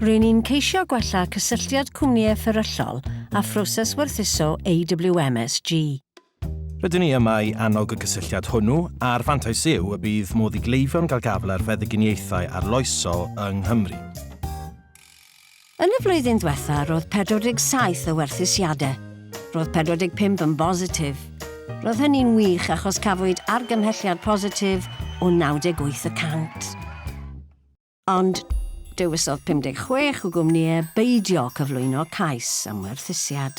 Rŷn ni'n ceisio gwella cysylltiad cwmnïau fferyllol a phroses werthuso AWMSG. Rydyn ni yma i annog y cysylltiad hwnnw, a'r fantais yw y bydd modd i gleifion gael gafael ar feddyginiaethau arloesol yng Nghymru. Yn y flwyddyn ddiwetha' ro'dd 47 o werthusiade'. Ro'dd 45 yn bositif. Ro'dd hynny'n wych achos cafwyd argymhelliad positif o 98 y cant. Ond dewisodd 56 o gwmnïe' beidio cyflwyno cais am werthusiad.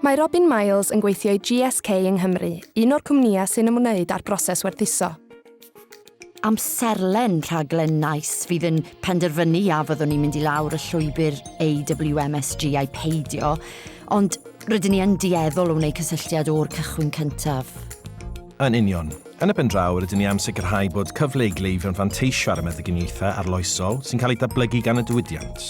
Mae Robin Miles yn gweithio i GSK yng Nghymru, un o'r cwmnïau sy'n ymwneud â'r broses werthuso. Amserlen rhaglen Nice fydd yn penderfynu a fyddwn ni'n mynd i lawr y llwybr AWMSG ai peidio, ond rydyn ni yn dueddol o wneud cysylltiad o'r cychwyn cyntaf. Yn union. Yn y pen draw, rydyn ni am sicrhau bod cyfle i gleifion fanteisio ar y meddyginiaethau arloesol sy'n cael eu datblygu gan y diwydiant.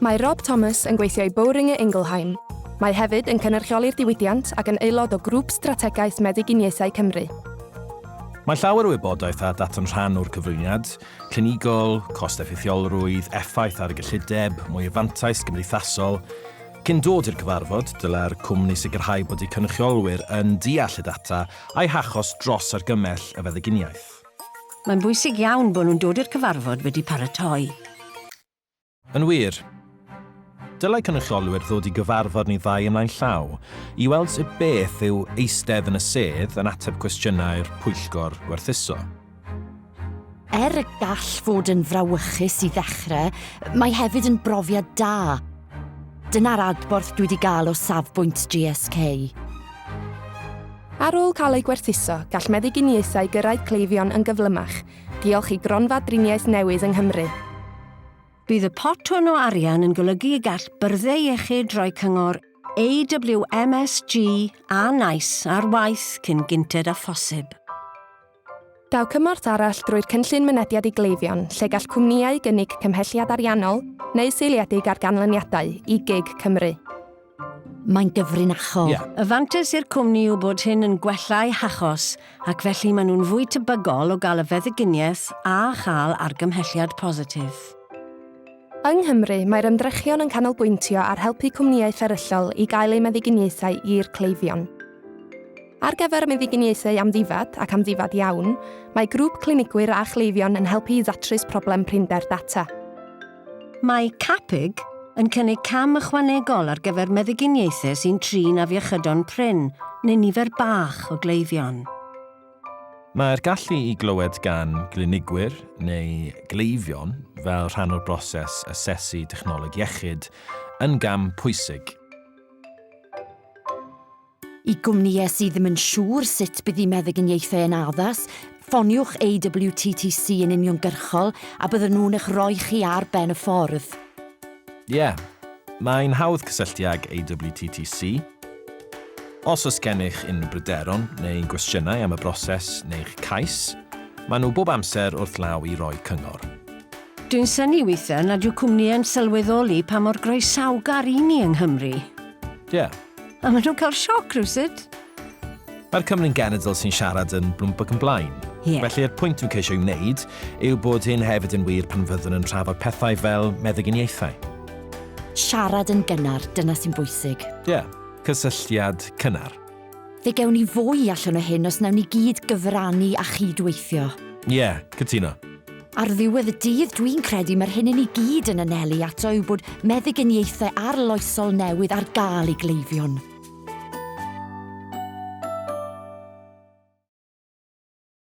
Mae Rob Thomas yn gweithio i Boehringer Ingelheim. Mae hefyd yn cynyrchioli'r diwydiant ac yn aelod o Grŵp Strategaeth Meddyginiaethau Cymru. Mae llawer o wybodaeth a data'n rhan o'r cyflwyniad, clinigol, cost-effeithiolrwydd, effaith ar y gyllideb, mwy o fantais gymdeithasol. Cyn dod i'r cyfarfod, dylai'r cwmni sicrhau bod eu cynrychiolwyr yn deall y data a'i hachos dros argymell y feddyginiaeth. Mae'n bwysig iawn bod nhw'n dod i'r cyfarfod wedi paratoi. Yn wir. Dylai cynrychiolwyr ddod i gyfarfod ni ddau ymlaen llaw i weld sut beth yw eistedd yn y sedd yn ateb cwestiynau'r pwyllgor gwerthuso. Er y gall fod yn frawychus i ddechrau, mae hefyd yn brofiad da. Dyna'r adborth dwi 'di gael o safbwynt GSK. Ar ôl cael eu gwerthuso, gall meddyginiaethau gyrraedd cleifion yn gyflymach, diolch i gronfa driniaeth newydd yng Nghymru. Bydd y pot hwn o arian yn golygu y gall byrddau iechyd roi cyngor AWMSG a NICE ar waith cyn gynted â phosib. Daw cymorth arall drwy'r Cynllun Mynediad i Gleifion lle gall cwmnïau gynnig cymhelliad ariannol neu seiliedig ar ganlyniadau i gig Cymru. Mae'n gyfrinachol. Yeah. Y fantais i'r cwmni yw bod hyn yn gwella eu hachos ac felly maen nhw'n fwy tebygol o gael y feddyginiaeth a chael argymhelliad positif. Yng Nghymru, mae'r ymdrechion yn canolbwyntio ar helpu cwmnïau fferyllol i gael eu meddyginiaethau i'r cleifion. Ar gyfer meddyginiaethau amddifad ac amddifad iawn, mae grŵp clinigwyr a chleifion yn helpu i ddatrys problem prinder data. Mae CAPIG yn cynnig cam ychwanegol ar gyfer meddyginiaethau sy'n trin afiechydon prin neu nifer bach o gleifion. Mae'r gallu i glywed gan glinigwyr neu gleifion fel rhan o'r broses asesu technoleg iechyd yn gam pwysig. I gwmnïau sydd ddim yn siŵr sut bydd eu meddyginiaethau yn addas, ffoniwch AWTTC yn uniongyrchol a byddan nhw'n eich rhoi chi ar ben y ffordd. Ie, mae'n hawdd cysylltu ag AWTTC. Os oes gennych unrhyw bryderon neu gwestiynau am y broses neu'ch cais, maen nhw bob amser wrth law i roi cyngor. Dwi'n synnu weithiau nad yw cwmnïau'n sylweddoli pa mor groesawgar 'y ni yng Nghymru. Ie, A maen nhw'n cael sioc rhywsut. Mae'r Cymru'n genedl sy'n siarad yn blwmbog yn blaen. Yeah. Felly, y pwynt dwi'n ceisio ei wneud yw bod hyn hefyd yn wir pan fyddwn yn trafod pethau fel meddyginiaethau. Siarad yn gynnar, dyna sy'n bwysig. Ie, yeah. cysylltiad cynnar. Fe gewn ni fwy allan o hyn os nawn ni gyd gyfrannu a chydweithio. Ie, yeah, cytuno. Ar ddiwedd y dydd, dwi'n credu mae'r hyn i ni gyd yn anelu ato yw bod meddyginiaethau arloesol newydd ar gael i gleifion.